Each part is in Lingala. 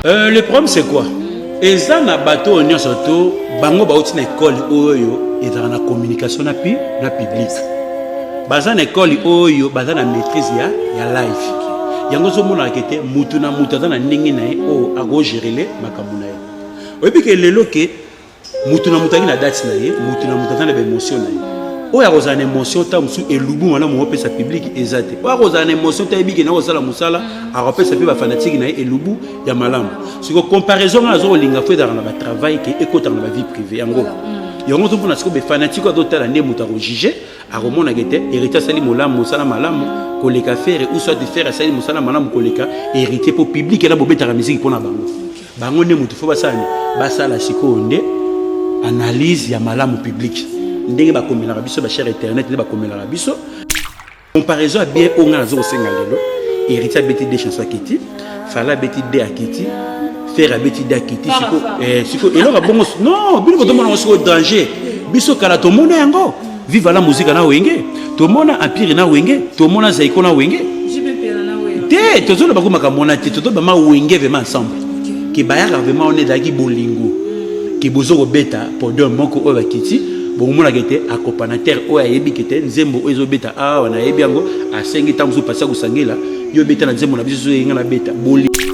Euh, le problème c'est quoi eza na bato oyo nyonso to bango bauti na ekole oyo ezalaka na communication na, pi, na public baza na ekole oyo baza na maîtrise ya, ya life yango ozomonaka te motu na motu aza na ndenge na ye oyo akogerele makambo na ye oyebi ke lelo ke moto na moto azali na date na ye moto na moto aza na baemotion na ye oyo akozala na émotion ntango mosusu elubu wana mongo opesa publike eza te oyo akozala na émotion te ayebiki na kosala mosala akopesa mpe bafanatike na ye elubu ya malamu siko comparaison ngai aza kolinga fo ezalaka na batravail ke ekotaka na bavie privé yango mm. yango ozo mpona sikoyo bafanatike azotala nde moto akojuge akomonaka ete héritier asali molamu mosala malamu koleka fere ou soit fere asali mosala malamu koleka héritier mpo publike na bobetaka miziki mpo na bango bango nde moto fo basala nini basala sikoyo nde analyse ya malamu publique ndenge bakomelaka biso bachere internet nde bakomelaka biso comparaison ya bien oyo ngai nazo kosenga lelo héritier abeti de chanson akiti fala abeti de akiti fer abeti de akiti siko eh, eloko ya bongo non bino botomonango sikoyo danger biso kala tomona yango Viva la musica na wenge tomona empire na wenge tomona zaiko na wenge te tozoloba ko makambo wana te tozoloba ma wenge vraiment ensemble ke bayaka vraiment wana ezalaki bolingo ke bozo kobeta podium moko oyo bakiti bokomonaka ete acopanatere oyo ayebi kete nzembo oyo ezobeta awa nayebi yango asengi ntango mosusu pasi ya kosangela yo obeta na nzembo na biso ezoyenga na beta bolingo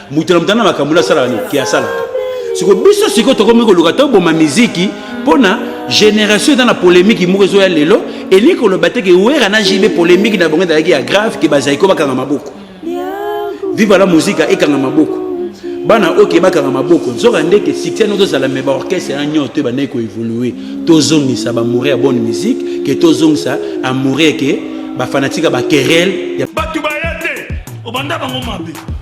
moto na moto na makambo nasalaka nini ke asalaka siko biso sikoyo tokomi koluka toboma miziki mpo na génération eza na polémique moko ezoya lelo elingi koloba te ke wera na jb polémique na bango ezalaki ya grave ke bazali ko bakanga maboko viva la mosika ekanga maboko bana oyo ke bakanga maboko nzoka nde ke succès no tozala me baorchestre ya nyonso to ebandaki koévolue tozongisa bamoure ya bonne musique ke tozongisa amoure ke bafanatika bakerele bato baya te obanda bango mabe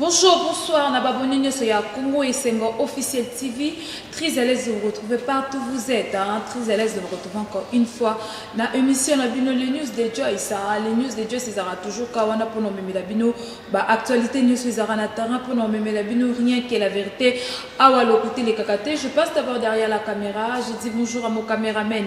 Bonjour, bonsoir, na babone nyoso ya Congo Esengo Officiel TV. Très à l'aise de vous retrouver partout où vous êtes. Hein? Très à l'aise de vous retrouver encore une fois na émission na bino les news de Joyce. Hein? Les news de Joyce ezara toujours kawana pour nomeme la bino ba actualité news ezara na terrain pour nomeme la bino rien que la vérité. Awa lokuti les kakate. Je passe d'abord derrière la caméra. Je dis bonjour à mon caméraman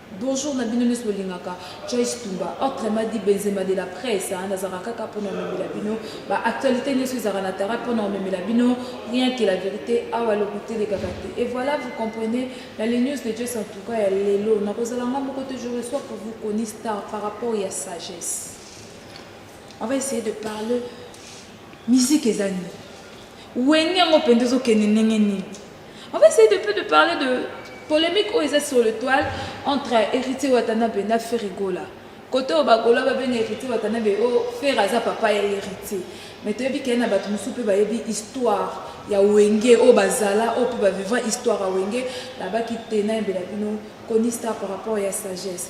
Bonjour na bino nionso bolingaka Joyce Tumba autrement dit Benzema de la presse hein, nazalaka kaka mpo na omemela bino ba actualités nionso ezalaka na tara mpo na omemela bino rien que la vérité awa lokuta elekaka te et voilà vous comprenez na les news de Joyce en tout cas ya lelo nakozala nga moko te je reçois pour vous Koni Star par rapport ya sagesse on va essayer de parler musique eza nini wenge yango mpenza ezokende ndenge nini On va essayer de peu de parler de polemique oyo eza sur le toile entre héritier watanabe na ferigola kote oyo bagola babenga héritier watanabe oyo oh, fere aza papa ya héritier mais toyebi kei na bato mosusu mpe bayebi histoire ya wenge oyo oh, bazala oyo oh, mpe bavivra histoire ya wenge nabaki te nayembela bino conista par rapport ya sagesse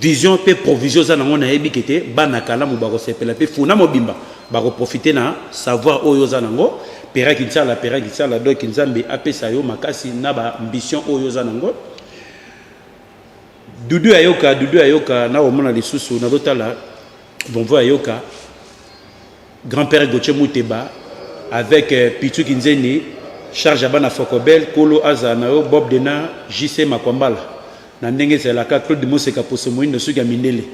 Vision pe provision oza nango nayebi ke te bana kalamu bakosepela pe funa mobimba bakoprofite na savoir oyo oza nango pera kinsala pera kinsala donc nzambe apesa yo makasi na ba ambition oyo oza nango dudu ya yoka dudu ya yoka nakomona lisusu nazotala bonvo ya yoka Grand père Gauthier Muteba avec euh, Pitsu Kinzeni charge abana Fokobel Kolo aza na yo Bob Dena JC Makwambala na ndenge ezalaka Claude Moseka Poso Moindo suki ya mindele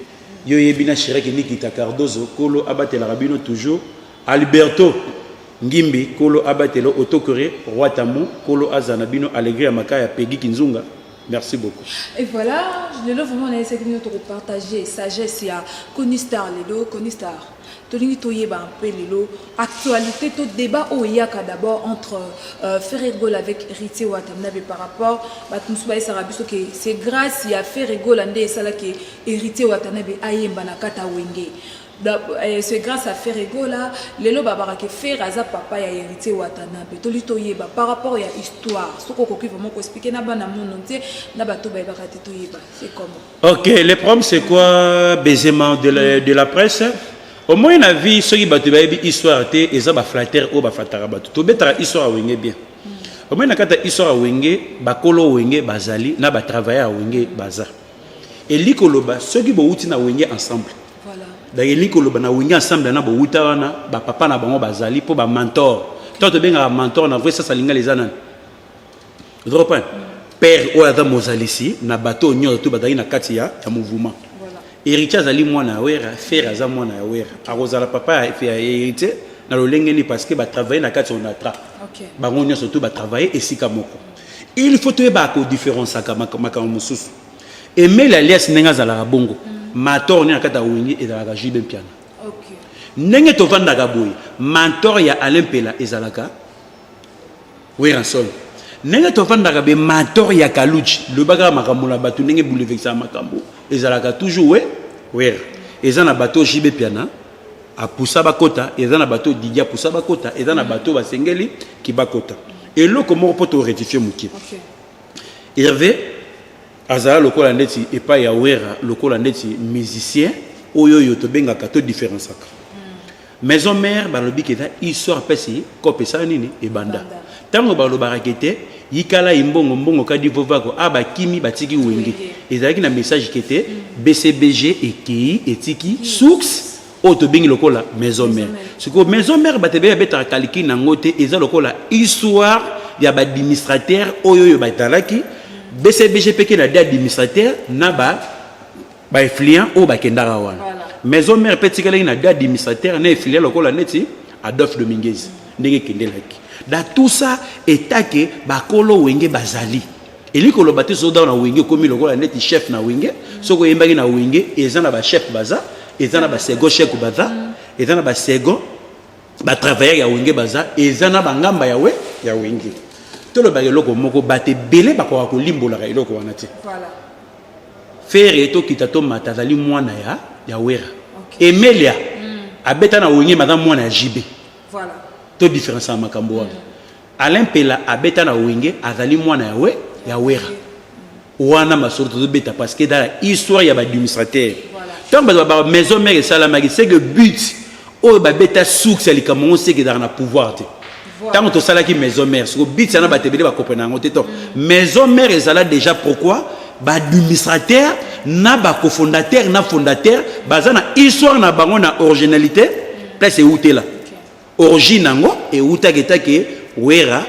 yo yebi na Shiraki Nikita Cardozo Kolo abatelaka bino toujours Alberto Ngimbi Kolo abatelo Otokore Roi Tamu Kolo aza na bino Alegria Makaya Peggy Kinzunga Merci beaucoup. Et voilà, le love vraiment on a essayé de partager sagesse, il y a Connie Star, les deux Connie Star. tolingi toyeba un peu lelo actualité to débat oyo eyaka d'abord entre euh, ferre gola avec héritier wata mnabe par rapport bato mosusu bayesaka biso ke c'est grâce ya ferre gola nde esalaki héritier wata nabe ayemba na kata wenge euh, c'est grâce à ferre gola lelo babaka ke ferre aza papa ya héritier watanabe toli toyeba par rapport ya histoire soki okoki vraiment koexplike na bana mono nte na bato bayebaka te toyeba c'est comment Ok, le problème c'est quoi baisement de la, de la presse Au moins na vie soki bato bayebi histoire te eza ba flatteur oyo baflataka bato tobetaka histoire ya wenge bien au moins na kati ya histoire ya wenge bakolo wenge bazali na batravailleur ya wenge baza elingi koloba soki bowuti na wenge ensemble donc elingi koloba na wenge ensemble na bowuta wana bapapa na bango bazali mpo bamantor to tobengaka mantor na vrai sasa lingala eza nani oza comprendre père oyo aza mozalisi na bato oyo nyonso to bazali na kati ya, ya mouvement héritier azali mwana ya wera fere aza mwana ya wera akozala papa ya, ya héritier na lolenge nini parce que batravaille na kati ya onatra okay. bango nyonso to batravaille esika moko il faut toyeba kodifferenciaka makambo mosusu emeli alias ndenge azalaka bongo mm. mator nde na kati ya wengi ezalaka jube mpiana okay. ndenge tovandaka boye mentor ya alain mpela ezalaka Werrason ndenge tofandaka be mator ya kaludji loba kaka makambo na batu ndenge boulevexaka makambo ezalaka toujours we werra eza na bato jb piana apusa bakota eza na bato didi apusa bakota eza na bato basengeli kibakota eloko moko mpo to rectifie moke okay. herve azala lokola ndeti epai ya werra lokola ndeti musicien oyo oyo tobengaka to différencaka Maison mère balobi que eza histoire pesi kope sala nini ebanda. Tango balobaka que te yikala imbongo mbongo kadi vovako a bakimi batiki wenge. Ezalaki na message que te BCBG ekeyi etiki source oyo tobengi lokola maison mère sikoyo maison mère bato ebele babetaka calcul na yango te eza lokola histoire ya baadministrateur oyo oyo batalaki bcbg mpe kena de administrateur na ba ba effluents oyo bakendaka wana maison mère mpe etikalaki na deux administrateurs na effluents lokola neti adolphe dominguez ndenge ekendelaki da tout ça etake bakolo wenge bazali elingi koloba te soki na wenge okomi lokola neti chef na wenge soki oyembaki na wenge eza na bachef baza eza na basego chek baza eza na basego batravailleur ya wenge baza eza na bangamba ya we ya wenge tolobaka eloko moko bato ebele bakoka kolimbolaka eloko wana te Ferre to kita to mata azali mwana ya ya Wera. Okay. Emelia mm. abeta na Wenge maza mwana ya JB. Voilà. To différence ya makambo wana. Mm. Alain Pela abeta na Wenge azali mwana ya we ya Wera. Mm. Wana masolo to beta parce que dans la histoire ya ba administrateur. Voilà. Tant ba maison mère esalamaki c'est que but Oyo ba beta source ya likambo ngo seke ezalaka na pouvoir te. Tango tosalaki maison mère, siko bitsa na bato ebele bakopre na yango te to. Maison mère ezala déjà pourquoi ba administrateur na ba cofondateur na fondateur baza na histoire na bango na originalité place eutela. Origine yango eutaki etake Wera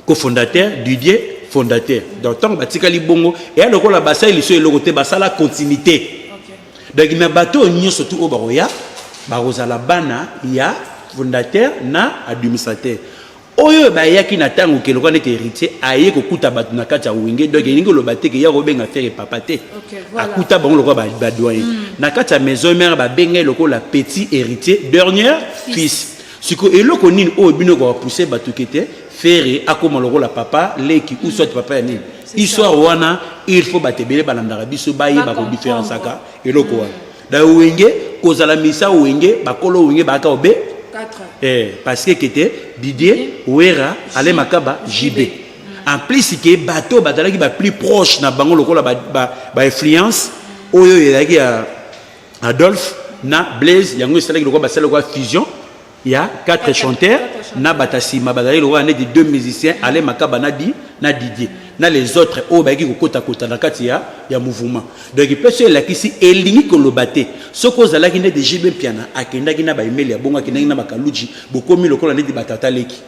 cofondateur didier fondateur donc ntango batikali bongo eya lokola basali liso eloko te basala continuité donc na bato oyo nyonso tu oyo bakoya bakozala bana ya fondateur na administrateur oyo bayaki na ntango ke lokola neti héritier aye kokuta bato na kati ya wenge donc elingi oloba te ke ya kobenga fere papa te akuta bango lokola badoyen hmm. na kati ya maison mare babengai lokola petit héritier dernier fils Siko eloko nini oyo oh, bino kwa pousser batu kete Ferre akoma lokola papa leki ou soit papa ya nini histoire wana il faut batebele balandaka biso bayeba ko différenciaka eloko wana da wenge kozala misa wenge bakolo wenge baaka obe eh parce que kete Didier Wera Ale Makaba JB hmm. en plus que bateau bazalaki ba plus proche na bango lokola ba ba, ba influence oyo ezalaki ya Adolphe na Blaise yango esalaki lokola basala lokola fusion ya quatre chanteurs na bata nsima bazalaki lokola neti deux musiciens ale makaba na di na didier na les autres oyo bayaki kokotakota na kati ya ya mouvement donc mpe so elakisi elingi koloba te soki ozalaki neti jb mpiana akendaki na baemeli ya bongo akendaki na bakaluji bokomi lokola neti batata leki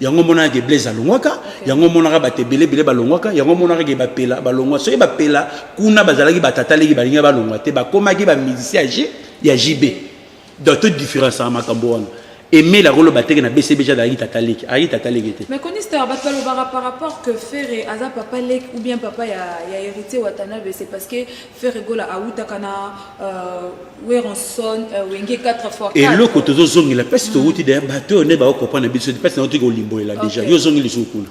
yango omonaka ke blaise alongwaka yango omonaka bato ebele ebele balongwaka yango omonaka ke bapela balongwa soki bapela kuna bazalaki batata leki balingi balongwa te bakomaki bamusicien ya ya jb donc to différence ya makambo wana emeli akoloba teke na bcbg azalaki tata leki ayaki tata leki te mais conister bato balobaka par rapport que ferre aza papa leki ou bien papa ya, ya héritier watanabe c'est parce que Ferre Gola awutaka na euh, Weronson euh, Wenge 4 fois 4. Eloko tozo zongela pasi mm. towuti da bato oyo nde ba comprendre biso pasi na otiki olimbolela déjà yo zongi lisusu kuna.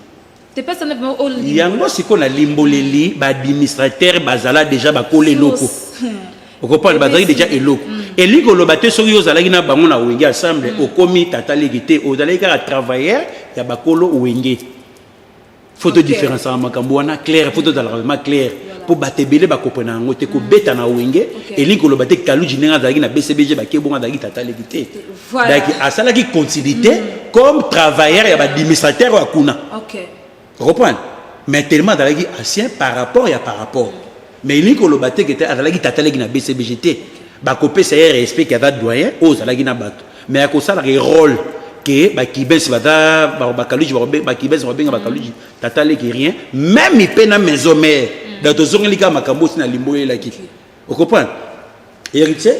Te pasi na ba olimbolela. Yango siko na limboleli ba administrateur bazala déjà bakola eloko. okompane bazalaki deja eloko mm. elingi koloba te soki yo ozalaki na bango na wenge ensemble mm. okomi tata leki te ozalaki kaka travailleur ya bakolo wenge faut todifférence ya makambo wana claire faut tozalaka vraimen claire mpo bato ebele bakopona yango te kobeta na wenge elingi koloba te kaluji ndenge azalaki na bcbg bake bongo azalaki tata leki te daki asalaki continuité mm. comme travailleur ya baadministrateur oyo akuna okoprendre mais tellement azalaki ancien par rapport ya par rapport mais elingi koloba te kete azalaki tata leki na bcbg te bakopesa ye respect ke aza doyen oyo ozalaki na bato mais akosala ke role ke bakibes baza bakaluji bakibes babenga bakaluji tata leki rien meme mpe na maison mare mm. donc tozongeli kaka makambo osi na limbo oyelaki okomprendre héritier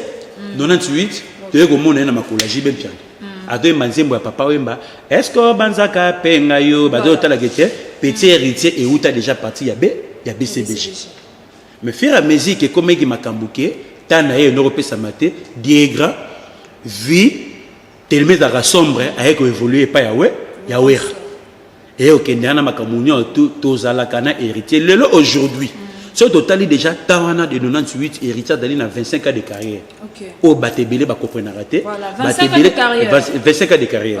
98 toye komona ye na makolo ya jibe mpiana azoyemba nzembo ya papa wemba eske obanzaka mpe ngai yo bazoyotalaka ete petit héritier euta déjà parti ya b ya bcbg Mais fur et à mesure que komeki makambo que temps na ye noko pesama te, Diegra vie tellement ezalaka sombre aye ko evoluer epai ya we ya Werra eye okende wana makambo nyonso tozalaka na héritier lelo aujourd'hui soki totali déjà temps wana de 98 héritier azali na 25 ans de carrière oyo bato ebele bakomprenaka te bato ebele 25 ans de carrière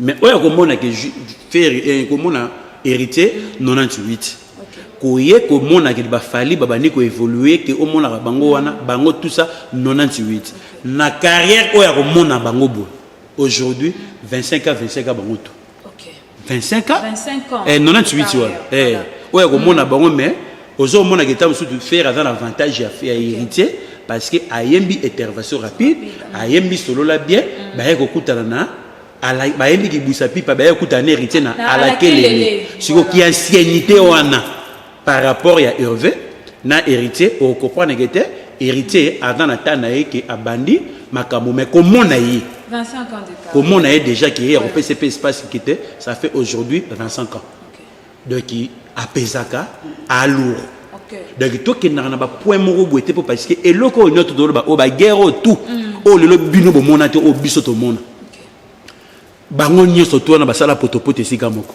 mais oyo akomona ke ferre eh, komona héritier 98 koye komona ke bafali babandi koévolue ke omonaka bango wana bango tout ça 98 na carrière oyo akomona bango boye aujourd'hui 25 a 25 a bango tout 25 a 98 eh, wana eh, oyo akomona mm. bango mais ozomona ke ntango mosusu ferre aza na avantage ya héritier parce que ayembi intervention rapide ayembi solola bien mm. baye kokutana na Ala, bayembi kibwisa pipa baye kuta na héritier na alakelele siko ki anciennité wana par rapport ya Hervé na héritier au comprendre que te héritier aza na temps na ye ke abandi makambo mais komona ye komona ye déjà ke ye akopesa pe espace kite ça fait aujourd'hui 25 ans donc apesaka alour donc tokendaka na bapoint moko boye te mpo parce que eloko oyo nyoto toloba oyo baguerre oyo tout mm. oyo lelo bino bomona te oyo biso tomona bango nyonso to wana basala potopoto esika moko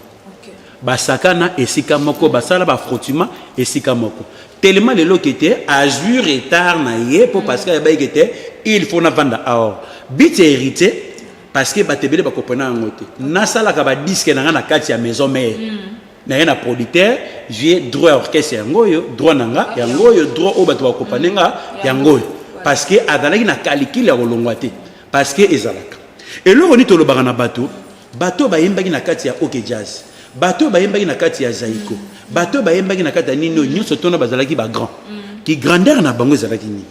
basakana esika moko basala bafrotima esika moko telema lelo ke te azwi retard na ye mpo mm. parce que ayebaki ke te il faut navanda aor bit ya héritier parce que bato ebele bakoprena yango te nasalaka badiske na ngai na kati ya maison mare mm. naye na producteur vie droit ya orchestre yango oyo droit na nga yango oyo droit oyo bato bakopane nga mm. yango oyo parce que azalaki na kalikile ya kolongwa te parce que ezalaka eloko nini tolobaka na bato bato bayembaki na kati ya ok jazz bato bayembaki na kati ya zaiko mm. bato bayembaki na kati ya nini oyo nyonso tona bazalaki bagrand ki grandeur na bango ezalaki nini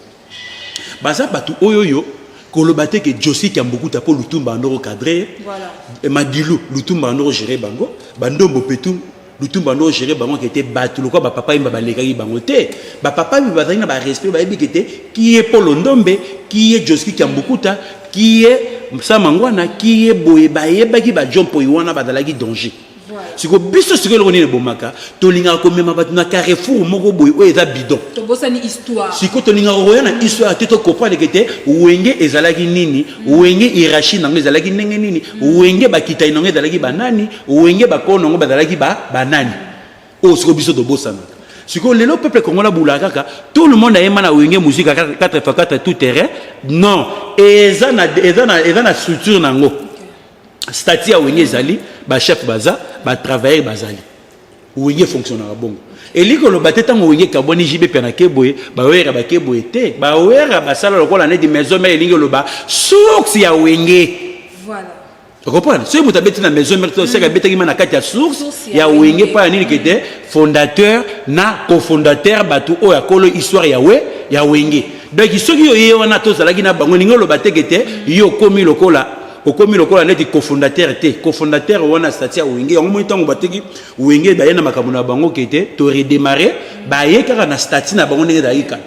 baza bato oyoyo koloba te ke josi kiambukuta mpo lutumba andoko cadre ye voilà. Eh, madilu lutumba andoko gere bango bandombo petu lutumba andoko gere bango ke te bato lokola bapapa yemba balekaki bango te bapapa yemba bazalaki na barespect bayebi ke te kiye polo ndombe kiye joski kiambukuta kiye samangwana kiye boye bayebaki bajompoyi wana bazalaki danger siko biso siko eloko nini ebomaka tolingaka komema bato na carrefour moko boye oyo eza bidon siko tolingaka koya na histoire te tokompreneke te wenge ezalaki nini wenge irachi nango ezalaki ndenge nini wenge bakitani nango ezalaki banani wenge bakolo nango bazalaki banani oyo oh, siko biso tobosanaka sikoyo lelo peuple kongo nabula kaka tout le monde ayemba na wenge muzika 4 fa 4 tout terrain non eza na structure na yango stati ya wenge ezali bachef baza batravailleur bazali wenge efonctionnaka bongo elingi koloba te ntango wenge ekabwani jibe mpe nake boye bawera bake boye te bawera basala lokola neti maison mare elingi koloba source ya wenge okompona soki moto abeti na maison mare toseke mm. abetakima na kati ya source ya wenge mpo ya nini kete fondateur na cofondateur bato oyo akolo histoire ya we ya wenge donc soki yo ye wana tozalaki na bango elingi koloba teke te yo okomi lokola okomi lokola neti cofondateur te cofondateur wana stati ya wenge yango moi ntango bateki wenge baye na makambo na bango ke te to redemare baye kaka na stati na bango ndenge ezalaki kala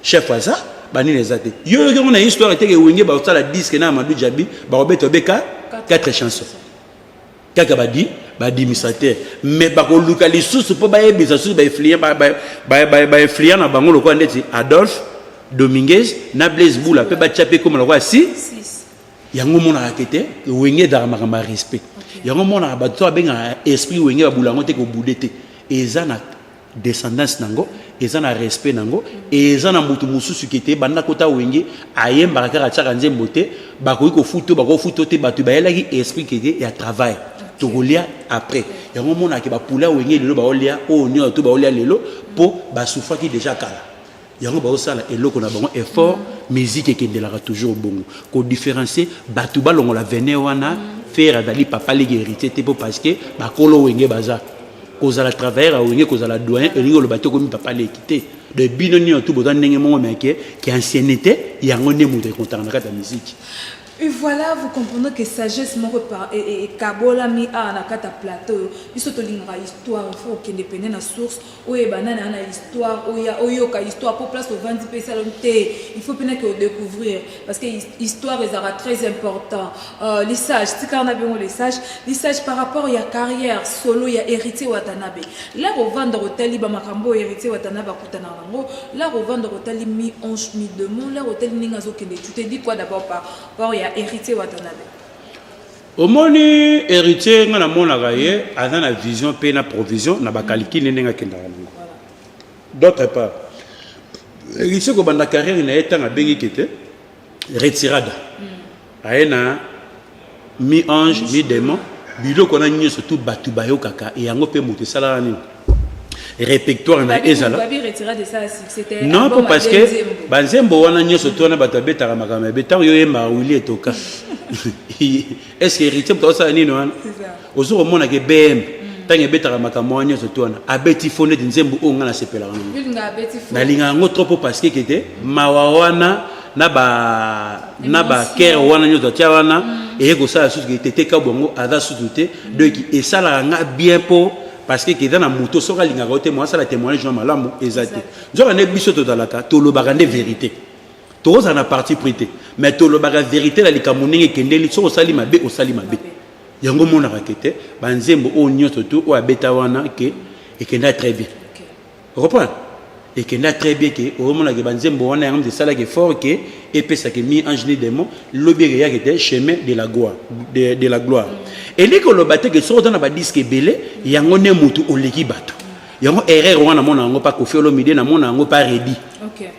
chef aza banini eza te yo yoki yango na histoire eteke wenge bakosala diske na amadou jabi bakobeta obeka 4 chanson kaka badi badimisa te mais bakoluka lisusu mpo bayebisa lisusu bainflient bainflient na bango lokola ndeti adolphe dominguez na blaise bula mpe batya mpe ekoma lokola si yango omonaka ke te wenge ezalaka makambo ya respect yango omonaka bato to babengaka esprit wenge babula yango te kobude te eza na descendance na yango eza na respect na yango eza na moto mosusu ke te banda kota wenge ayembaka kaka atyaka nzembo te bakoki kofuto bakofuto te bato bayelaki esprit ke te ya travail tokolia après yango omonaka bapoula wenge lelo baolia oyo nyonso to baolia lelo mpo basufaki deja kala yango baosala eloko na bango effort musique ekendelaka toujours bongo kodifferencie bato balongola vene wana fere azali papa leki héritier te mpo parce que bakolo wenge baza kozala travailleur ya wenge kozala doyen elingi oloba te okomi papa leki te de bino nino tu boza ndenge moko meke ke anciennité yango nde moto ekontaka na kati ya miziki Et voilà, vous comprenez que sagesse moko ekabolami awa na kati ya plateau oyo biso tolingaka histoire il faut okende pene na source oyeba nani ana histoire oya oyoka histoire mpo place ovandi mpe esala te il faut mpenaki odecouvrir parce que histoire ezalaka très important euh, lisage tikala na biongo lisage lisage par rapport ya carrière solo ya héritier watanabe la kovanda kotali bamakambo oyo héritier watanabe akutana yango la kovanda kotali mi ange mi demon la kotali ndenge azokende tu te dis quoi d'abord par rapport ya héritier watanabe Omoni heritier nga na monaka ye aza na vision pe na provision na ba calcul ne ndenge akendaka nango. D'autre part heritier ko banda carrière na ye tanga bengi kete retirada. Hmm. Aye na mi ange mi démon biloko na nyoso tout batu bayokaka yango pe moto esalaka nini? repertoire na ezala non po parce que banzembo wana nyonso to wana bato babetaka makambo ya be ntango yo oyembaka wili etoka est ce que héritier moto akosala nini wana ozo komona ke bm ntango ebetaka makambo wana nyonso to wana abeti fo neti nzembo oyo ngai nasepelaka nango nalingaka yango trop po parce que kete mawa wana na ba na ba kere wana nyonso atya wana mm. eye kosala susu ke tete kabwango aza susu te mm. donc esalaka ngai bien po parce que eza na moto soki alingaka yo te mo asala témoignage na malamu eza te nzoka nde biso tozalaka tolobaka nde verité tokozala na parti pris te mais tolobaka verité na likambo ndenge ekendeli soki osali mabe osali mabe yango omonaka ke te banzembo oyo nyonso tu oyo abeta wana ke ekenda très bien O comprendre? Ekenda très bien que omona que ba nzembo wana yango esalaki effort que epesa que mi ange ni demon lobi eke yaki te chemin de la gloire de, de la gloire. Elingi koloba te que soki oza na ba disque ebele yango ne mutu oleki bato. Yango erreur wana mona yango pa Koffi Olomide na mona yango pa Reddy. Okay.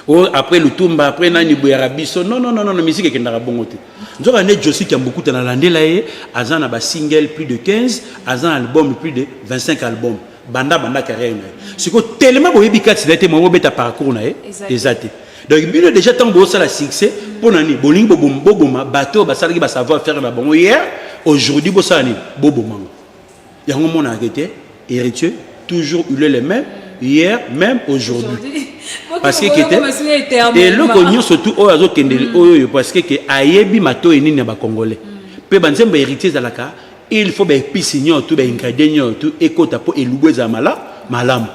Oh, après lutumba après nani boyaka biso non non non non musique ekendaka bongo te nzoka nde josi kiambukuta nalandela ye aza na basingle plus de 15 aza na album plus de 25 album banda banda carrière na ye sikoyo telema boyebi kati na ye te mwa bobeta parcours na ye eza te donc bino déjà ntango bosala succès mpo na nini bolingi boboma bato oyo basalaki basavoir faire na bango hier aujourd'hui bosala nini bobomango yango omonaka ke te héritier toujours il est le même hier même aujourd'hui parce que kete eloko nyonso tu oyo azokendeli mm. oyo oyo parce que ke ayebi matoyi nini ya bacongolais mpe mm. banzembo héritier ezalaka il faut baepisi nyonso tu baingredient nyonso tu ekota mpo elubu ezala malamu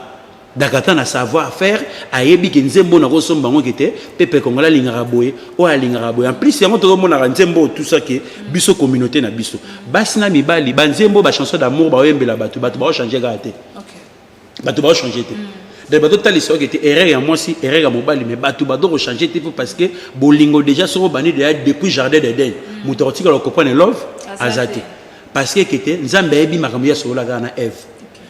Dakata na savoir faire ayebi ke nzembo na kosomba yango kete pepe kongola alingaka boye oyo alingaka boye en plus yango tozomonaka nzembo oyo tout ça ke biso communauté na biso basi na mibali banzembo ba chanson d'amour baoyembela bato bato baochange kaka te bato baochange te mm. donc bazotalisa yo kete erreur ya mwasi erreur ya mobali mais bato bazokochange te po parce que bolingo déjà soko bandi deya depuis jardin d'eden mm. moto akotikala kopone love aza te parce que kete nzambe ayebi makambo ya solola kaka na eve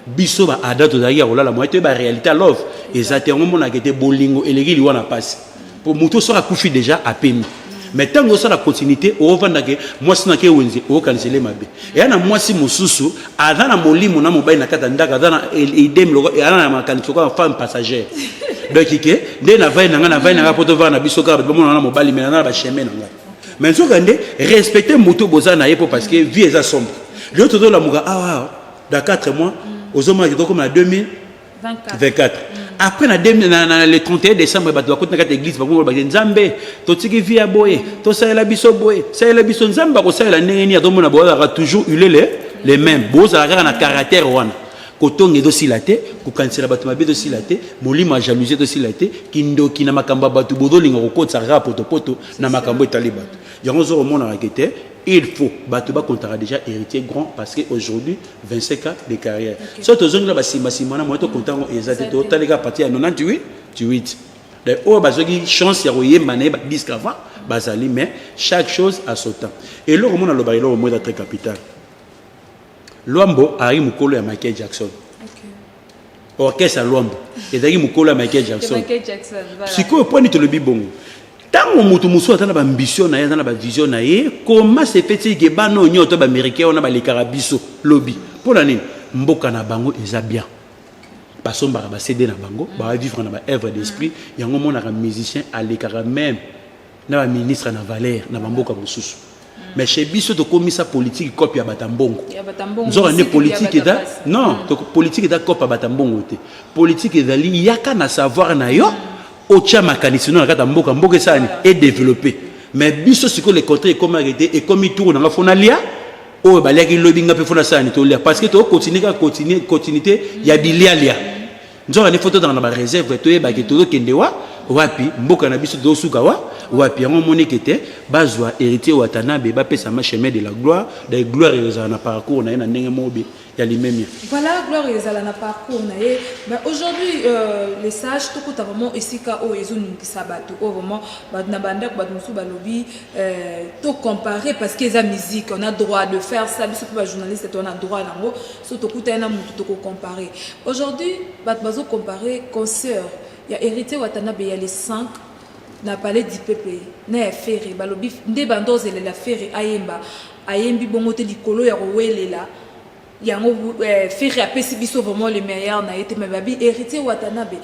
biso ba ada tozalaki ya kolala moye toyeba réalité ya love eza te yango omonaka ete bolingo eleki liwa na mpasi mpo moto soki akufi déjà apemi mais ntango osala continuité ovandake mwasi nake wenze oyokanisele mabe eya na mwasi mosusu aza na molimo na mobali na kati ya ndako aza na idem aza na makanisi lokola femme passagère donc ke nde navai na ngai navai na ngai mpo tovaa na biso kaka bato bamona na mobali me naza na bachemin na ngai mais nzokande respecte moto boza na ye mpo parce que vie eza sombre lio tozolamuka awa ah, ah, dans 4 mois mm. ozomona ke tokoma na 2024 mm. après na, demi, na, na le 31 décembre bato bakoti na kati ya église bakoloba ke nzambe totiki vi ya boye tosalela biso boye salela biso nzambe akosalela ndenge nini atomona bozalaka toujours ulele le même bozala kaka na caractère wana kotonga ezosila te kokanisela bato mabe ezosila te molimo ya jalousie ezosila te kindoki na makambo ya bato bozolinga kokotisa kaka potopoto na makambo etali bato yango ozokomonaka ke te il faut bato bakontaka déjà héritier grand parce que aujourd'hui 25 ans de carrière okay. so tozongela basimbasimba na moya tokonta yango eza te totalika parti ya 98 8 donc oyo bazwaki chance ya koyemba na ye badisque avant bazali mais chaque chose à son temps eloko mona aloba eloko moko eza très capital Luambo azalaki mokolo ya Michael Jackson. Okay. Orchestre ya Luambo ezalaki mokolo ya Michael Jackson. Michael Jackson voilà. Sikoyo mpo nini tolobi bongo? Ntango moto mosusu aza na baambition na ye, aza na bavision na ye, koma sepeti ege bana oyo nyonso to baamericain wana balekaka biso lobi. Mpo na nini? Mboka na bango eza bien. basombaka ba CD na bango, mm. ba vivre na ba œuvre d'esprit, mm. yango monaka musicien alekaka même na ba ministre na valeur na ba mboka mosusu mais chez biso tokomisa politiki cope ya bata mbongo nzoka nde politiki eza non mm. politiki eza cope ya bata mbongo te politiki ezali yaka na savoir na yo otya makanisi no na kati ya mboka mboka esalani edeveloppe mais biso sikoyo le contraire ekomaki te ekomi tour nanga fo nalia oyo baliaki lobi nga mpe fo nasalani tolia parce que tokokontinue kaka continuité ya bilialia nzoka nde fo tozala na bareserve toyeba ke tozokende wa wapi mboka na biso tozosuka wa wapi yango omoneke te bazwa héritier watanabe bapesama chemin de la gloire de gloire ezala na parcours na ye na ndenge mobe ya limemia voilà gloire ezala na parcours na ye mais aujourd'hui euh, les sages tokuta vraiment esika oyo ezoningisa bato oyo vraiment bato na bandako bato mosusu balobi euh, tocompare parce que eza musique on a droit de faire ça biso mpe bajournaliste to on a droit yango so tokutani na motu toko compare aujourd'hui bato bazo compare concert ya héritier watanabe ya le 5 na palais du peuple na ya ferre balobi nde bando ozelela ferre ayemba ayembi bongo te likolo ya kowelela yango eh, ferre apesi biso vraiment le meilleur na ye te me babi héritier watanabe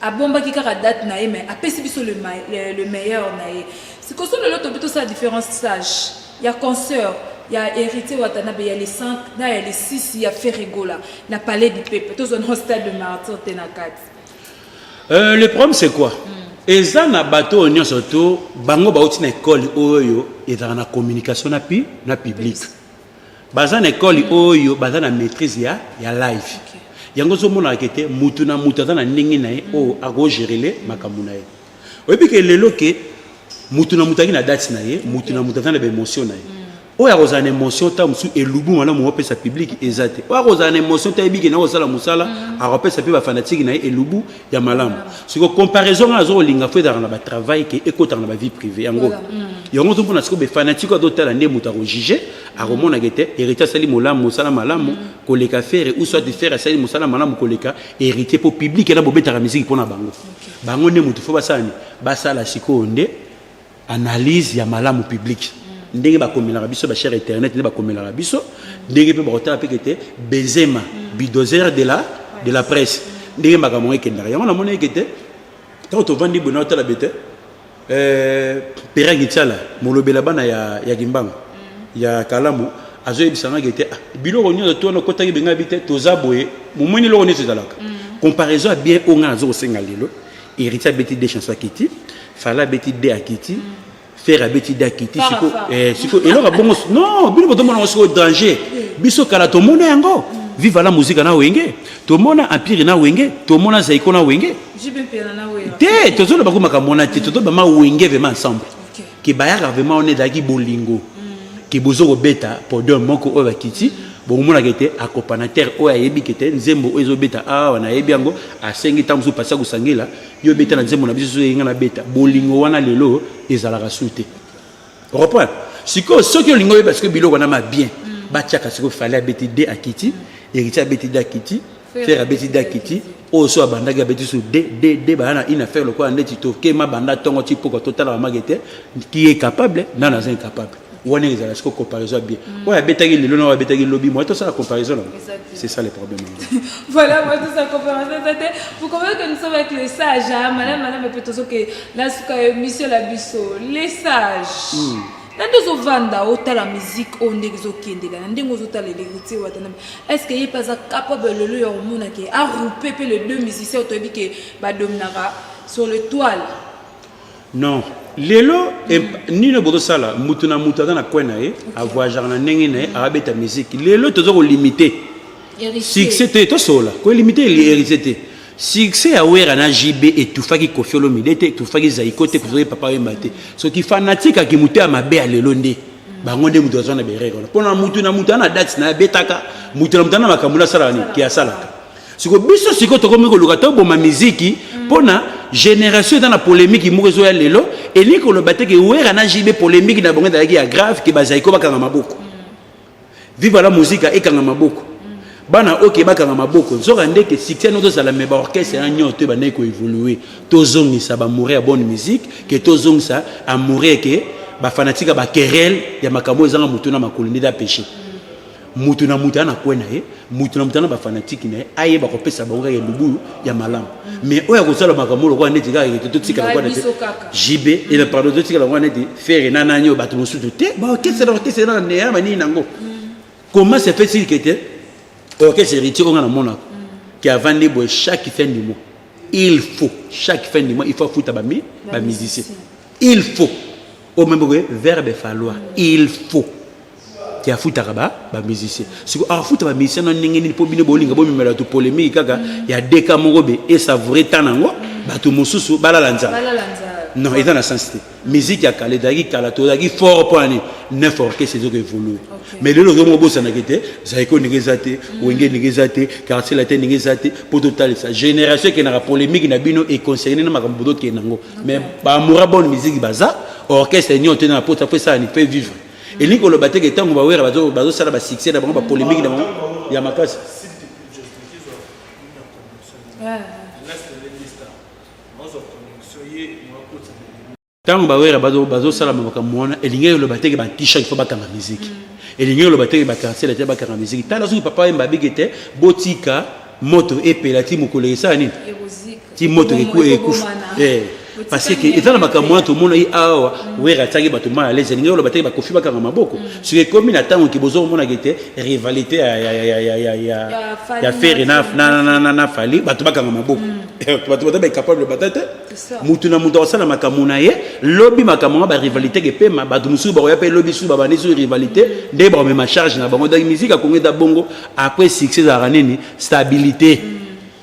abombaki kaka date na ye mais apesi biso le, le, le meilleur na ye sikoso lelo tobi tosala différence sage ya concert ya héritier watanabe ya le 5 na ya le 6 ya ferregola na palais du peuple tozwa na stade de martyr te na kati euh, le problème c'est quoi mm. eza na bato oyo nyonso to bango bauti na ekole oyo ezalaka na communication na, pi, na publique baza na ekole oyo baza na maîtrise ya, ya live okay. yango ozomonaka ete mutu na mutu aza na ndenge na ye mm. oyo akogerele makambo na ye oyebi ke lelo ke mutu na mutu azalaki na date na ye mutu okay. na mutu aza na baémotion na ye mm. oyo akozala na émotion ntango mosusu elubu malamu opesa publike eza te oyo akozala na émotion ntango ayebiki na kosala mosala mm. akopesa mpe bafanatike na ye elubu ya malamu siko comparaison nga nazo kolinga fo ezalaka na batravail ke ekotaka na bavie privé yango mm. yango ozomona siko befanatike azotala nde moto akojuge akomonaka ete héritier asali molamu mosala malamu mm. koleka fere ou soit fere asali mosala malamu koleka héritier mpo publike na bobetaka miziki mpo na bango bango nde moto fo basala nde basala sikoyo nde analyse ya malamu publique ndenge bakomelaka biso ba chers internet nde bakomelaka biso ndenge mpe bakotala mpe kete benzema bidozer de la de la presse ndenge makambo yango ekendaka yango namoni eke te ntango tovandi boye naotala be te euh, pera gitiala molobela bana ya, ya kimbangu mm. ya kalamu azoyebisa ngaki te ah, biloko nyonso to wana okotaki bengai bi te toza boye momoni eloko nyonso ezalaka mm. comparaison ya bien oyo ngai nazo kosenga lelo héritier abeti de chanson akiti fala abeti de akiti fere abeti de akiti siko eh, siko eloko abongo non bino botomona yango sikoyo danger biso kala tomona yango viva la muzika na wenge tomona empire na wenge tomona zaiko na wenge te tozoloba ko makambo wana te tozoloba ma wenge vrema ensemble ke bayaka vrema wana ezalaki bolingo mm. ke bozo kobeta podium moko oyo bakiti bokomonaka ete akopana tere oyo ayebi kete nzembo oyo ezobeta awa nayebi yango asengi ntango mosusu pasi akosangela yo beta na nzembo na biso soki nga nabeta bolingo wana lelo ezalaka su te reprend sikoyo soki olingi oyeba sikoyo biloko wana ma bien mm. batiaka sikoyo fale abeti de akiti mm. héritier abeti de akiti fer abeti de akiti oyo so abandaki abeti su de de de baya na ina fer lokola ndeti tokema banda ntongo ti pokwa totalaka mage te ki est capable nano aza incapable wana ezala siko comparaison ya bien oyo abetaki lelo na oyo abetaki lobi moye tosala comparaison nango c'est ça le problème voilà moi tout ça comparaison eza te vous comprenez que nous sommes avec les sages hein malin malin mais peut-être que la suka émission la biso les sages hmm. na nde ozovanda otala musike oyo ndenge ezokendela na ndenge ozotala elerite wata na est ce que ye mpe aza capable lelo ya komona ke aroupe mpe le deux musicien otoyebi ke badominaka sur le toile Non lelo nini bozosala mutu na mutu aza na coin na ye avoyageaka na ndenge na ye abeta musique lelo toza kolimite succès te tosolola kolimite héritier te succès ya wera na jb etufaki kofi olomide te etufaki zaiko te kofioki papa oyemba te soki fanatique aki moto ya mabe ya lelo nde bango nde moto azwa na berere wana mpo na motu na moto ana date na abetaka motu na moto ana makambo na asalaka nini ke asalaka siko biso siko tokomi koluka toboma miziki mpo na génération eza na polémique moko ezoya lelo elingi koloba te ke wera na jb polémique na bango ezalaki ya grave ke bazali ko bakanga maboko viva la muzika ekanga maboko bana oyo ke bakanga maboko nzoka nde ke succès yango tozala me baorchestre ya nyonso to ebandaki koevolue tozongisa bamoure ya bonne musique ke tozongisa amoure ke bafanatika bakerele ya makambo ezanga motu na makolo nde da péché moto na moto aya na kwe na ye moto na moto na bafanatike na ye ayeba kopesa bango kaka elubulu ya malamu mais oyo akosala makambo lokola neti kaka ete totika lokola neti jb ena eh pardon totika lokola neti fere na nani oyo bato mosusu te baorkestre na orkestre na neya banini nango comment se fait-il que te orkestre héritier oyo nga namonaka ke avandi boye chaque fin du mois il faut chaque fin du mois il faut afuta bamusicien il faut oyo meme boye verbe falloir il faut te afutaka ba ba musiciens siko afuta ba musiciens na ndenge nini mpo bino bolinga bomemela bato polémique kaka ya deka moko be esavoure ntan yango bato mosusu balala nzala non eza na sens te musique ya kala ezalaki kala tozalaki fort mpo ani neuf orchestre ezoki evolue mais lelo ozo moko bosanaki te zaiko ndenge eza te mm. wenge ndenge eza te quartier latin ndenge eza te mpo totalisa génération ekendaka polémique na bino econcerne na makambo bozokende yango mais bamora bonne musique baza orchestre nyonso te na mpota mpo esala ni mpe vivre elingi koloba te ke ntango bawera bazosala basuccès na bango bapolemiki na bango ya makasi ntango bawera bazosala makambo wana elingi koloba te ke batisha il faut bakanga miziki mm. elingi koloba te ke bakansela te bakanga miziki tala soki papa yemba abiki te botika moto epela ti mokolo esala nini ti moto ekufa eh, parce que eza na makambo wana tomonaki awa mm. wera atiaki bato mal à l'aise elingi oloba te bakofi bakanga maboko mm. soki ekomi na ntango ke bozomonaki te rivalité ya fere na fali bato bakanga maboko mm. eh, bato bata baecapable bata te motu na moto akosala makambo na ye lobi makambo yango barivalité kepema bato mosusu bakoya mpe lobi susu babandi susu rivalité nde bakomema charge na bango donc musike akongo eza bongo après succès ezalaka nini stabilité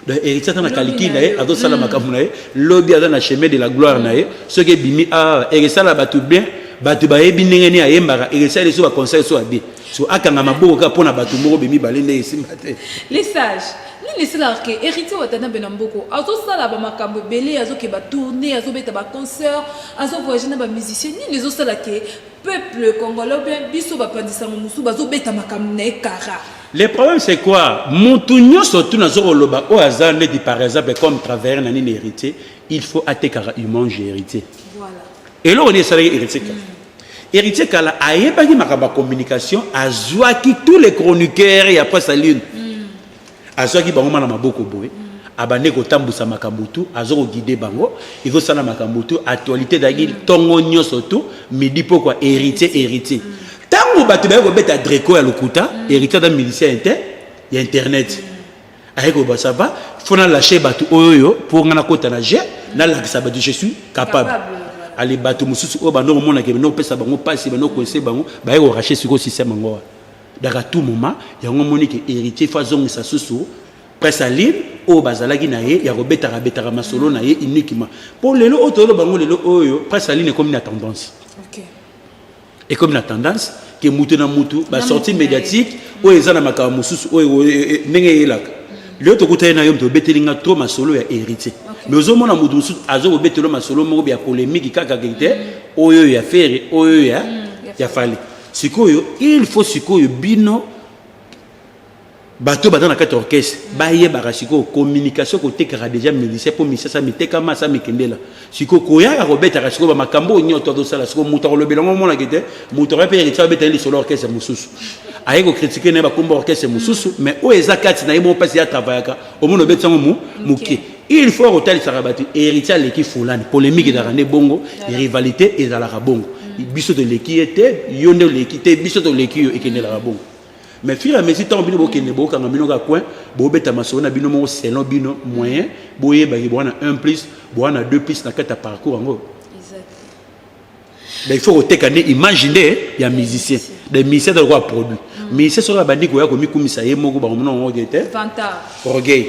donc héritier aza na calcul na ye azosala makambo na ye lobi aza na chemin de la gloire na ye soki ebimi awa ekesala bato bien bato bayebi ndenge nini ayembaka ekesali so baconseil so abi so akanga maboko kaka mpo na bato moko be mibale nde esimba te les sages nini esalaka ke héritier watanabe na mboko azosala bamakambo ebele azokeba tourne azobeta baconcert azovoyage na bamusicien nini ezosala ke Peuple congolais ou bien biso ba pandisango musu bazo beta makambo na ye kara. Le problème c'est quoi? Mutu nyoso tu nazo koloba oyo aza neti par exemple comme travailleur na nini héritier, il faut atekaka humange héritier. Voilà. Eloko nini esalaki héritier kala? Héritier kala ayebaki makambo ya communication, azwaki tous les chroniqueurs ya Presse la Lune. azwaki bango ma na maboko boye abande kotambwisa makambo tu aza kogide bango ezosala makambo tu actualité ezalaki ntongo nyonso tu midi pokwa héritier héritier ntango bato baye kobeta dreco ya lokuta héritier aza milicien inte ya internet aye koyeba ça va fo nalache bato oyo oyo mpo ngai nakota na jeu nalakisa bato je suis capable ale bato mosusu oyo bando komonaka bando kopesa bango mpasi bando koinse bango baye korache sikoyo système yango wana Donc à tout moment, yango moni que héritier faut azongisa susu presse à lire oyo bazalaki na ye ya kobetaka betaka masolo na ye uniquement mpo lelo oyo toyoloba yango lelo oyo presse à lire ekomi na tendance okay. ekomi na tendance ke moto na moto basortie médiatique oyo eza na makambo mosusu oyo e, e, ndenge eyelaka lelo tokutani na yo moto obeteli nga trop masolo ya héritier mais ozomona moto mosusu aza kobetelo masolo moko ya polémique kaka ke te oyo ya fere oyo ya mm, ya fale Sikoyo il faut sikoyo bino bato baza na kati orchestre bayebaka sikoyo communication kotekaka deja milisia mpo misasa mitekama asa mikendela sikoyo koyaka kobetaka sikoyo bamakambo oyo nyonso azosala sikoyo moto akolobela yango omonaki te moto akoya mpe yaki tia obeta ye lisolo orchestre mosusu aye kokritike na ye bakomba orchestre mosusu mais oyo eza kati na ye moko mpasi ye atravayaka omona obeti yango moke il faut kotalisaka bato héritier aleki fulani polémique ezalaka nde bongo rivalité ezalaka bongo biso toleki ye te yo nde oleki te biso toleki yo ekendelaka bongo mais fur à mesure ntango bino bokende bokanga bino ka coin bobeta masolo na bino moko selon bino moyen boyebaki bowana 1 plus bowana 2 plus na kati ya parcours yango da il faut koteka nde image nde ya musicien da musicien ta lokola produit musicien soki abandi koya komikumisa ye moko bango mino yango te orgueil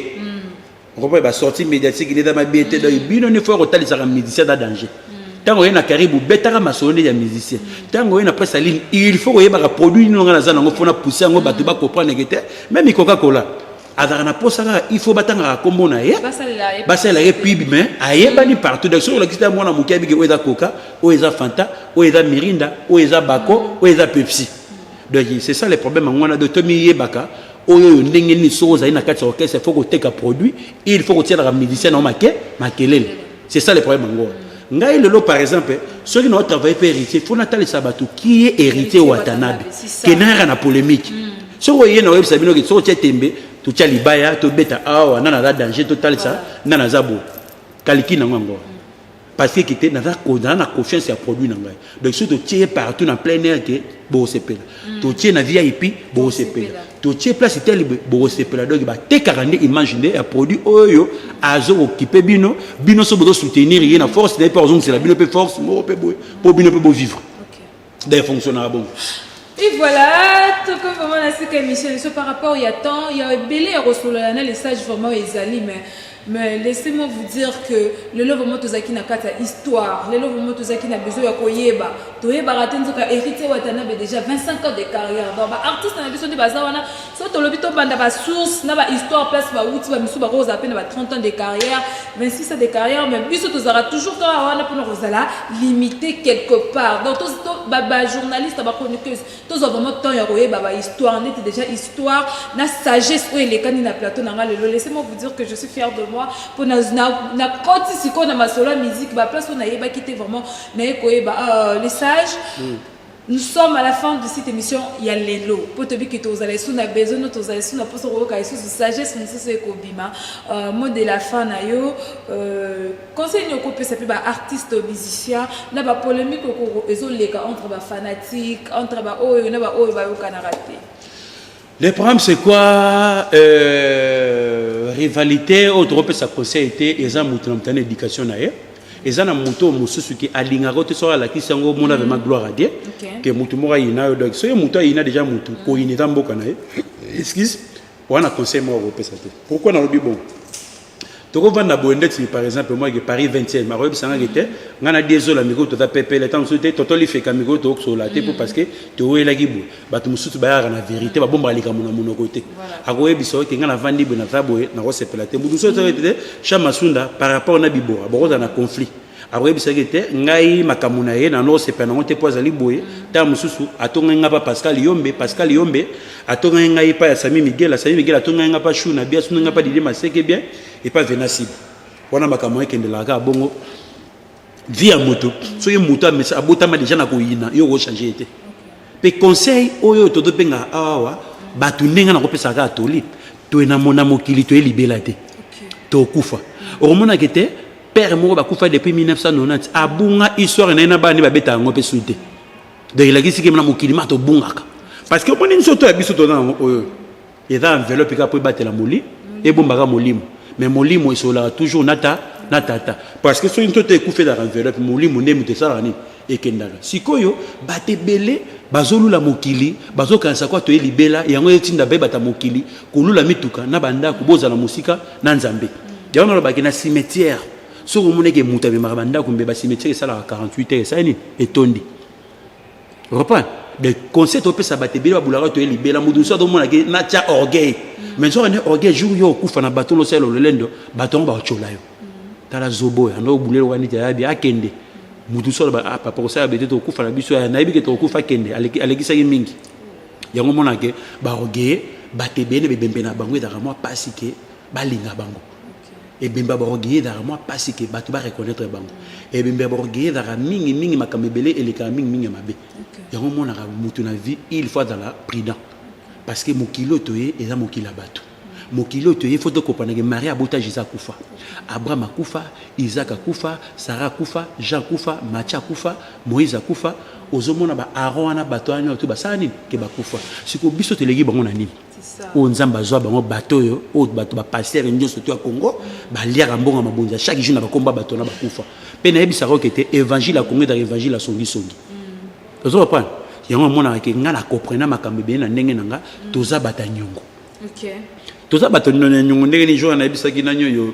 okomona ba sortie médiatique nde eza mabe te donc bino nde fo ya kotalisaka musicien da danger ntango oye na karibe obetaka masolo nde ya musicien ntango oye na presse ya ligne il faut koyebaka produit nini onga naza nango mpo na pousse yango bato bakompreneke te meme ikoka kola azalaka na mposa kaka il faut batangaka nkombo na ye basalela ye pibi mais ayebani partout donc soki olakisi ta mwana moke abiki oyo eza coca oyo eza fanta oyo eza mirinda oyo eza bako oyo eza pepsi donc c'est ça le problème yango wana donc tomiyebaka Oyo oyo ndenge nini soki ozali na kati ya orchestre faut koteka produit il faut kotielaka musicien na make makelele c'est ça le problème yango ngai lelo par exemple soki na travaille mpe héritier faut natalisa bato qui est héritier watanabe kenayaka na polémique hmm. soki oye na oyebisa bino soki otie tembe totya libaya tobeta awa nana aza danger totalisa nana aza boye kaliki nango yango Pasteur Kite, naza kozala na confiance ya produit na ngai. Donc soki totie ye partout na plein air ke bokosepela. Mm. Totie na VIP bokosepela. Totie place tele bokosepela. Donc batekaka nde image nde ya produit oyo azo kokipe bino. Bino so bozo soutenir ye na force na ye mpe ozongisela bino mpe force moko mpe boye mpo bino mpe bovivre. D'ailleurs, fonctionnera bon. Et voilà, tout comme vraiment la sika émission, par rapport il y a temps, il y a belé à ressouler, les sages vraiment ils allaient, mais mais laissez-moi vous dire que le lelo vraiment tozalaki na kati ya histoire lelo vraiment tozalaki na besoin ya koyeba toyebaka te nzoka héritier watanabe déjà 25 ans de carrière donc baartiste na biso nde baza wana so tolobi tobanda basource na bahistoire place bawuti bamisu bakozala mpe na ba 30 ans de carrière 26 ans de carrière mais biso tozalaka toujours kaka wana mpona kozala limité quelque part donc bajournaliste bachroniqueuse tozwa vraiment temps ya koyeba bahistoire neti déjà histoire na sagesse oyo elekani na plateau na ngai lelo laissez-moi vous dire que je suis fière de moi mpo nakoti sikoyo na masolo ya musique baplace oyo nayebaki te vraiment naye koyeba euh, les sages mm. Nous sommes à la fin de cette émission ya lelo mpo toyebi ke tozala esu na besoin no tozala esu na mposa koyoka esusu sagesse mosusu ekobima euh, mot de la fin na yo euh, conseil nini okopesa mpe baartiste musicien na bapolémique ezoleka entre bafanatique entre baoyo na baoyo bayokanaka te Le problème c'est quoi euh, rivalite oyo tokopesa conseil te eza moto na moto na éducation na ye eza na moto oyo mosusu ke alingaka oyo te soki alakisi yango omona vraimen mm. gloire adie ke motu moko ayina yo donc soki motu ayina deja motu mm. koyina eza mboka na ye excuse wana conseil moko akopesa te pourquoi nalobi bongo tokovanda boye ndeti par exemple moi ke paris 20e makoyebisanga ke te ngai na diezola mikolo toza pepele ntango mosusu te toto lifeka mikolo tokosola te mpo mm. parce que towelaki boye bato mosusu bayaka na verité babombaka likambo na monoko te akoyebisa oyo te ngai navandi boye naza boye nakosepela te moto mosusu ozaa te cha masunda par rapport na bibora bokozala na conflit akoyebisaki ete ngai makambo na ye nanosepela nango te mpo azali boye ntango mosusu atongaki ngai mpa pascal yombe pascal yombe atongaki ngai epai ya sami miguel sami miguel atongaki ngai mpa shuna bi asundaki ngai mpa didie maseke bien epai venasibe wana makambo yango ekendelaka kaka bongo vi ya moto soki moto abotama deja na koyina yo okochange ye te Pe conseil oyo toto benga awa batu ndenge na kopesa ka toli to na mona mokili to libela te to kufa okomona kete père moko bakufa depuis 1990 abunga histoire na ina bani babeta yango pe suite donc elakisi ke na mokili ma tobungaka parce que omoni nzoto ya biso tona yango oyo eza enveloppe kaka mpo ebatela moli ebombaka molimo mais molimo esololaka toujours na ta na tata parce que soki nzoto ekufi ezalaka enveloppe molimo nde moto esalaka nini ekendaka sikoyo bato ebele bazolula mokili bazokanisa kwa toye libela yango etinda baye bata mokili kolula mituka na bandako bozala mosika na nzambe yango nalobaki na cimetière soki omoneke moto amemaka bandako mbe bacimetière esalaka 48 heures esali nini etondi reprend des conseils topesa bato ebele babulaka toye libela moto mosusu atomona ke natya orgueil mm. mais soki ne orgueil jour yo okufa na bato losala lolendo bato yango bakocola yo mm. tala zobo oyo ando obuleli oka neti ayabi akende moto mosusu aloba ah, papa kosala bete tokokufa na biso eh, nayebi ke tokokufa akende alekisaki mingi yango omona ke baorgueil bato ebele bebembe na bango ezalaka mwa mpasi ke balinga bango ebembe ya baroge ezalaka mwa mpasi ke bato bareconnaitre bango ebembe ya baroge ezalaka mingi mingi makambo ebele elekaka mingi mingi ya mabe yango omonaka motu na vie il faut azala prudent parce que mokili oyo toye eza mokili ya bato mokili oyo toye fo tokopanake marie abota jesus akufa abraham akufa isak akufa sara akufa jean akufa matia akufa moïse akufa ozomona baaron wana bato wana oyo basala nini ke bakufa sikoyo biso toleki bango na nini oyo nzambe azwa bango bato oyo oyo bato bapastere nyonso to ya congo baliaka mbongo ya mabonzi ya chaque jour na bakomba bato wana bakufa mpe nayebisaka oke te évangile ya congo ezalaka évangile ya songisongi mm. ozo comprendre yango amonaka ke ngai na comprena makambo ebele na ndenge na ngai mm. toza bato ya nyongo toza bato ya nyongo ndenge ni jour nayebisaki nani oyo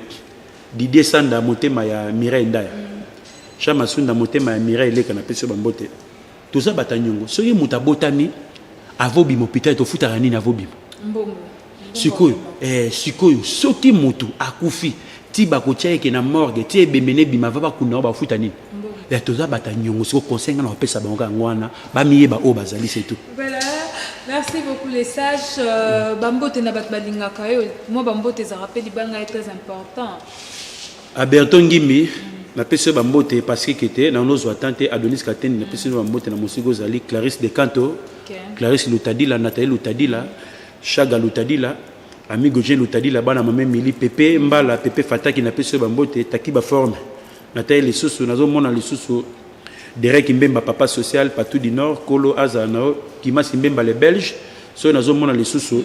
didie sanda motema ya mireille ndaya mm. jean masunda motema ya mireille eleka napesi yo bambote toza bata nyongo soki moto abotami avobima hôpital tofutaka nini avobima mbongo sikoyo eh, sikoyo soki moto akufi ti bakotia yeke na morgue ti ebembe nebima va bakunda yango bafuta nini ya toza bata nyongo sikoyo conseil ngai na kopesa bango kaka yango wana bamiyeba oyo bazali se tout merci beaucoup les sages euh, bambote na bato balingaka yo mwa bambote ezalaka mpe libanga ye très important Aberton Ngimbi, napesi yo bambote Patrick Ete, na nozwa temps te Adonis Katende, napesi yo bambote na mosika ozali Clarisse Decanto, Clarisse Lutadila, Nathalie Lutadila, Shaga Lutadila, Amigo Jean Lutadila, bana mame Mili, Pepe Mbala, Pepe Fataki, napesi yo bambote Takiba Forme, natali lisusu, nazomona lisusu Derek Mbemba, Papa Social, Patou du Nord, Kolo azala na yo, Kimasi Mbemba le Belge, soki nazomona lisusu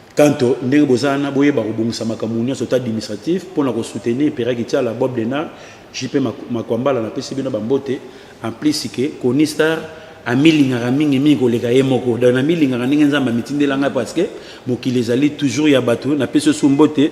Kanto, ndenge boza wana boyeba kobongisa makambo nyonso ta administratif mpo na kosoutenir Pera Kitiala, Bob Denard, JP Makwambala napesi bino bambote en plus ke Koni Star amilingaka mingi mingi koleka ye moko donc namilingaka ndenge Nzambe amitindela ngai parce que mokili ezali toujours ya bato napesi osu mbote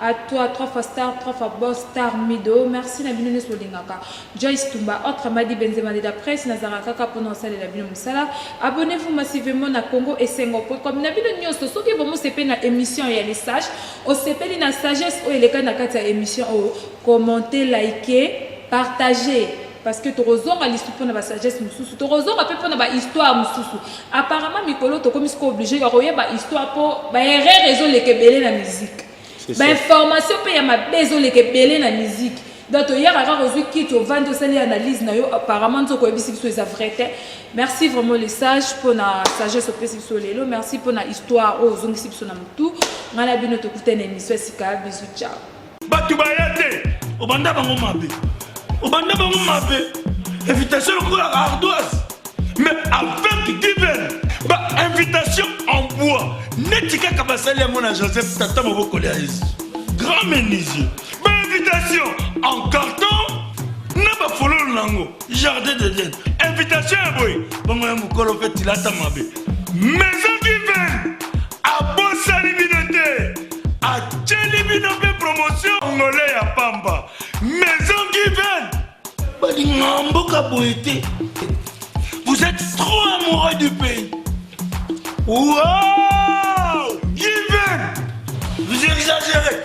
A toi, trois fois star, trois fois boss, star Mido. Merci na bino nyoso bolingaka. Joyce Tumba, autre Madi Benzema de la presse, nazanga kaka pona osalela bino musala. Abonnez-vous massivement na Congo Esengo po comme na bino nyoso soki bomo sepeli na émission ya les sages, osepeli na sagesse oyo elekani na kati ya émission oyo, commentez, likez, partagez. parce que tokozonga lisu mpo na basagesse mosusu tokozonga mpe mpo na bahistoire mosusu apparemment mikolo tokomi siko oblige ya koyeba histoire mpo baerreur ezoleka ebele na miziki bainformation mpe ya mabe ezoleka ebele na miziki donc toyaka kaka ozwi kiti ovandi osali analyse na yo apparemment nzoka oyebisi biso eza vrai te merci vraiment le sage mpo na sagesse opesi biso lelo merci mpo na histoire oyo ozongisi biso na motu ngai na bino tokutana emission ya sika bisu ciao bato baya te obanda bango mabe obanda bango mabe invitation lokola ardoise mais avec diven ba invitation en bois neti kaka basali yango na joseph tata moboko lya yesu grand menuisier ba invitation en carton na bafololo na yango jardin de den invitation ya boye bongo ya mokolo mpe tilata mabe maison kiven abosani bino te atyeli bino mpe promotion ngole ya pamba maison kiven balinga mboka boye te vous êtes trop amoureux du pays wow kiven vous exagérez